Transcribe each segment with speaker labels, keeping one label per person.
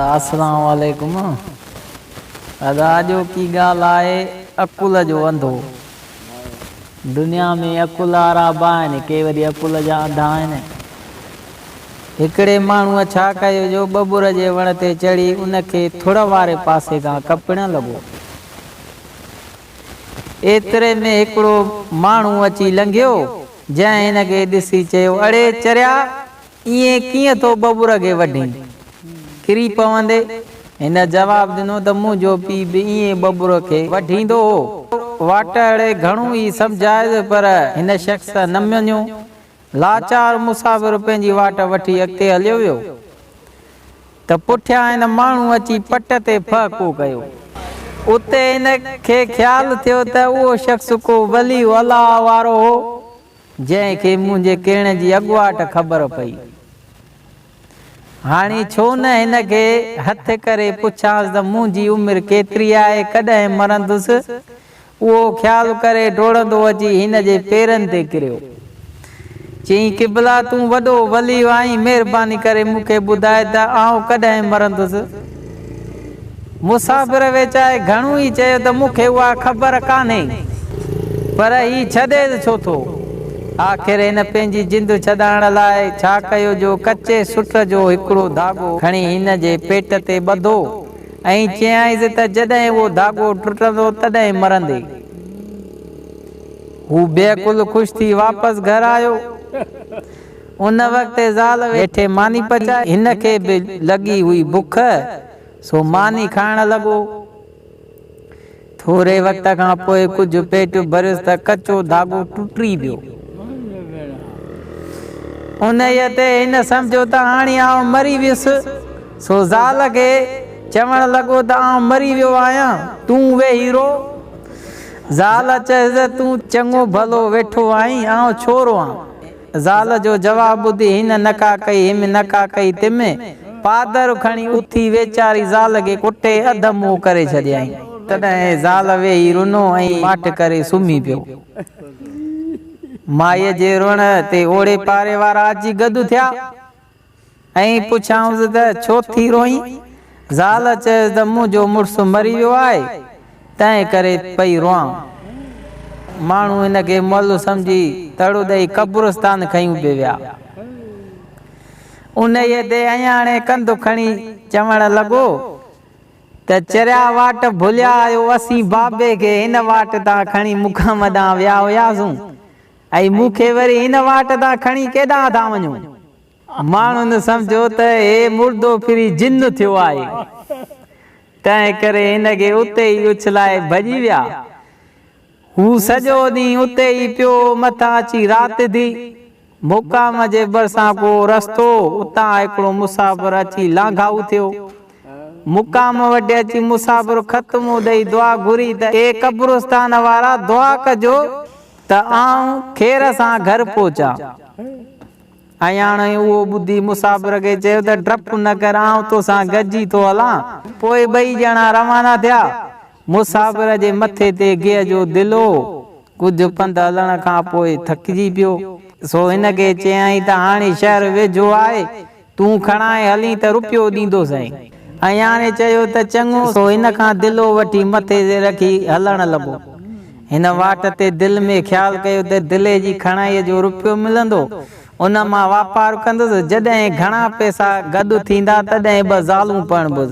Speaker 1: اسلام عليڪم ادا اڄوڪي ڳالهه آهي عقل جو انڌو دنيا ۾ عقل وارا به آهن ڪي وري عقل جا انڌا آهن هڪڙي ماڻهو ڇا ڪيو جو ٻٻر جي وڻ تي چڙهي ان کي ٿڙ واري پاسي کان ڪپڻ لڳو ايتري ۾ هڪڙو ماڻهو اچي لنگهيو جنهن هن کي ڏسي چيو، اڙي چريا، ائين ڪيئن ٿو ٻٻر کي وڍين؟ ڪري پوندي. هن جواب ڏنو ته منهنجو پيء به ائين ٻٻر کي وڍيندو هو. واٽهڙي گهڻو ئي سمجهايس پر هن شخص نه مڃيو. لاچار مسافر پنهنجي واٽ وٺي اڳتي هليو ويو. ته پٺيان هن ماڻهو اچي پٽ تي ڦهڪو ڪيو. اتي هن کي خيال ٿيو ته اهو شخص ڪو ولي الله وارو هو، جنهن کي منهنجي ڪيڻ جي اڳواٽ خبر پئي. هاڻي ڇو نه هن کي هٿ ڪري پڇانس ته منهنجي عمر ڪيتري آهي، ڪڏهن مرندس؟ اهو خيال ڪري ڊوڙندو اچي هن جي پيرن تي ڪريو. چيائين، قبلا تون وڏو ولي آهين، مهرباني ڪري مون کي ٻڌاء ته آئون ڪڏهن مرندس؟ مسافر ويچائي گهڻو ئي چيو ته مون کي اها خبر ڪانهي، پر هي ڇڏيس ڇو ٿو؟ آخر هن پنهنجي جند ڇڏائڻ لاء ڇا ڪيو جو ڪچي سٽ جو هڪڙو ڌاڳو کڻي هن جي پيٽ تي ٻڌو. ائين چيائينس ته جڏهن اهو ڌاڳو ٽٽندو تڏهن مرندين. هو بيعقل خوش ٿي واپس گهر آيو. ان وقت زال ويٺي ماني پچائي، هن کي به لڳي هئي بک سو ماني کائڻ لڳو. ٿوري وقت کان پوء ڪجهه پيٽ ڀريس ته ڪچو ڌاڳو ٽٽي ويو. انهيء تي هن سمجهيو ته هاڻي آئون مري ويس، سو زال کي چوڻ لڳو ته آئون مري ويو آهيان، تون ويهي رو. زال چيس ته تون چڱو ڀلو ويٺو آهين، آئون ڇو روئان؟ زال جو جواب ٻڌي هن نڪا ڪئي هيم نڪا ڪئي تيم پادر کڻي اٿي ويچاري زال کي ڪٽي اڌ منهن ڪري ڇڏيائين. تڏهن زال ويهي رنو ۽ ماٺ ڪري سمهي پيو. مائيء جي روئڻ تي اوڙي پاري وارا اچي گڏ ٿيا. ائين پڇيائونس ته ڇو ٿي روئين؟ زال چيس ته منهنجو مڙس مري ويو آهي، تنهن ڪري پئي روئان. ماڻهو هن کي مئل سمجهي تڙ ڏئي قبرستان کنيون به ويا. انهيء تي اياڻي ڪنڌ کڻي چوڻ لڳو ته چريا واٽ ڀليا آهيو، اسين بابي کي هن واٽ تان کڻي مقام ڏانهن ويا هياسون، ۽ مون کي وري هن واٽ تان کڻي ڪيڏانهن ٿا وڃو؟ ماڻهن سمجهيو ته هي مردو ڦري جن ٿيو آهي، تنهنڪري هن کي اتي ئي اڇلائي ڀڄي ويا. هو سڄو ڏينهن اتي ئي پيو هو، مٿان اچي رات ٿي. مقام جي ڀرسان ڪو رستو هو، اتان هڪڙو مسافر اچي لانگهائو ٿيو. مقام وٽ اچي مسافر خط منهن ڏئي دعا گهري ته اي قبرستان وارا دعا ڪجو، ته آئون خير سان گهر پهچان. اياڻوء اهو ٻڌي مسافر کي چيو ته ڊپ نه ڪر آئون تو سان گڏ ئي ٿو هلان. پوء ٻئي ڄڻا روانا ٿيا. مسافر جي مٿي تي گيهه جو دل هو. ڪجهه پنڌ هلڻ کان پوء ٿڪجي پيو. سو هن کي چيائين ته هاڻي شهر ويجهو آهي. تون کڻائي هلين ته رپيو ڏيندوسين. اياڻي چيو ته چڱو. سو ان کان دلو وٺي مٿي تي رکي هلڻ لڳو. هن واٽ تي دل ۾ خيال ڪيو ته دلي جي کڻائي جو رپيو ملندو، ان مان واپار ڪندس. جڏهن گهڻا پئسا گڏ ٿيندا تڏهن ٻه زالون پرڻبس.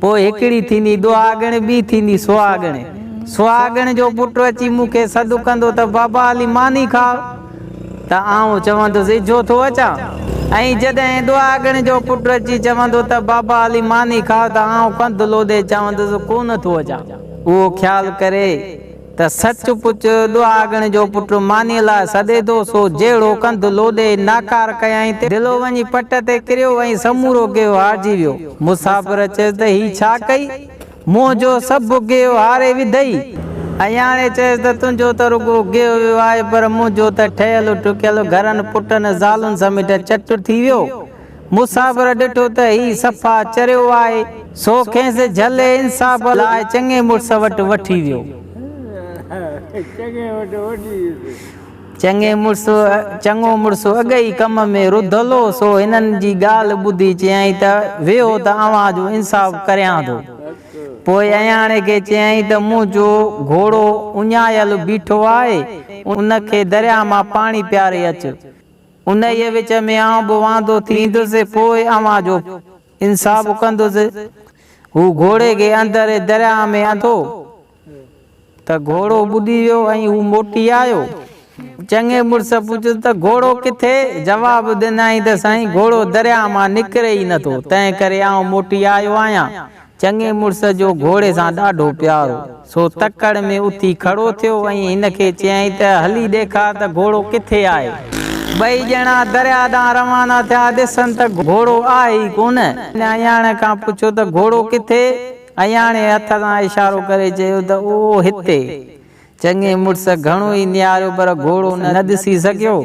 Speaker 1: پوء هڪڙي ٿيندي ڏهاڳڻ، ٻي ٿيندي سهاڳڻ. سهاڳڻ جو پٽ اچي مون کي سڏ ڪندو ته بابا علي ماني کاء ته آئون چوندس اجهو ٿو اچان ۽ جڏهن ڏهاڳڻ جو پٽ اچي چوندو ته بابا علي ماني کاء ته آئون ڪنڌ لوڏي چوندس ڪونه ٿو اچان. اهو خيال ڪري. ته سچ پچ ڏهاڳڻ جو پٽ مانيء لاء سڏي ٿو، سو جهڙو ڪنڌ لوڏي ناڪار ڪيائين ته دلو وڃي پٽ تي ڪريو ۽ سمورو گيهو هارجي ويو. مسافر چيس ته هي ڇا ڪئي؟ منهن جو سڀ گيهو هاري وڌئي؟ اياڻي چيس ته تنهنجو ته رڳو گيهو ويو آهي، پر منهنجو ته ٺهيل ٺڪيل گهرن، پٽن، زالن سميت چٽ ٿي ويو. مسافر ڏٺو ته هي صفا چريو آهي، سو کيس جهل انصاف لاء چڱي مڙس وٽ وٺي ويو. چڱي مڙس، چڱو مڙس اڳ ئي ڪم ۾ رڌل هو، سو هنن جي ڳالهه ٻڌي چيائين ته ويهو ته اوهان جو انصاف ڪريان ٿو. پوء اياڻي کي چيائين ته منهنجو گهوڙو اڃايل بيٺو آهي، ان کي درياء مان پاڻي پياري اچ. انهيء وچ ۾ آئون به واندو ٿيندس، پوء اوهان جو به انصاف ڪندس. هو گهوڙي کي اندر درياهه ۾ انڌو ته گهوڙو ٻڏي ويو ۽ هو موٽي آيو. چڱي مڙس پڇيس ته گهوڙو ڪٿي؟ جواب ڏنائين ته سائين گهوڙو درياهه مان نڪري ئي نٿو، تنهنڪري آئون موٽي آيو آهيان. چڱي مڙس جو گهوڙي سان ڏاڍو پيار هو، سو تڪڙ ۾ اٿي کڙو ٿيو ۽ هن کي چيائين ته هلي ڏيکار ته گهوڙو ڪٿي آهي. ٻئي ڄڻا درياء ڏانهن روانا ٿيا، ڏسن ته گهوڙو آهي ئي ڪونه. هن اياڻي کان پڇيو ته گهوڙو ڪٿي؟ اياڻي هٿ سان اشارو ڪري چيو ته اهو هتي. چڱي مڙس گهڻو ئي نهاريو پر گهوڙو نه ڏسي سگهيو.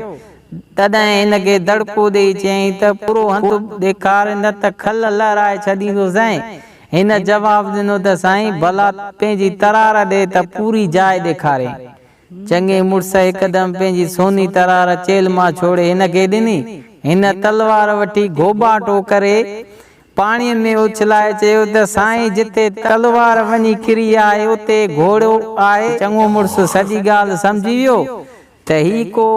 Speaker 1: تڏهن هن کي دڙڪو ڏيئي چيائين ته پورو هنڌ ڏيکار نه ته کل لهرائي ڇڏيندوسانء. هن جواب ڏنو ته سائين ڀلا پنهنجي ترار ڏي ته پوري جاء ڏيکارين. چڱي مڙس هڪدم پنهنجي سوني ترار چيلهه مان ڇوڙي هن کي ڏني. هن تلوار وٺي گهوٻاٽو ڪري پاڻيء ۾ اڇلائي چيو ته سائين جتي تلوار وڃي ڪري آهي اتي گهوڙو آهي. چڱو مڙس سڄي ڳالهه سمجهي ويو ته هي ڪو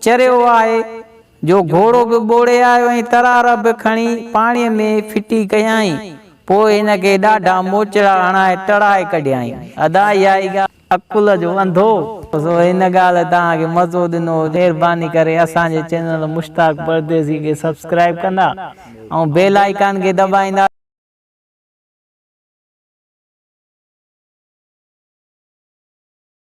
Speaker 1: چريو آهي جو گهوڙو به ٻوڙي آيو ۽ ترار به کڻي پاڻيء ۾ ڦٽي ڪيائين. پوء هن کي ڏاڍا موچڙا هڻائي ٽڙائي ڪڍيائين. ادا اها ئي ڳالهه. عقل جو انڌو. سو هن ڳالهه توهان کي مزو ڏنو هجي مهرباني ڪري اسان جي چينل مشتاق پرديسي کي سبسڪرائيب ڪندا ۽ بيل آئيڪان کي دٻائيندا.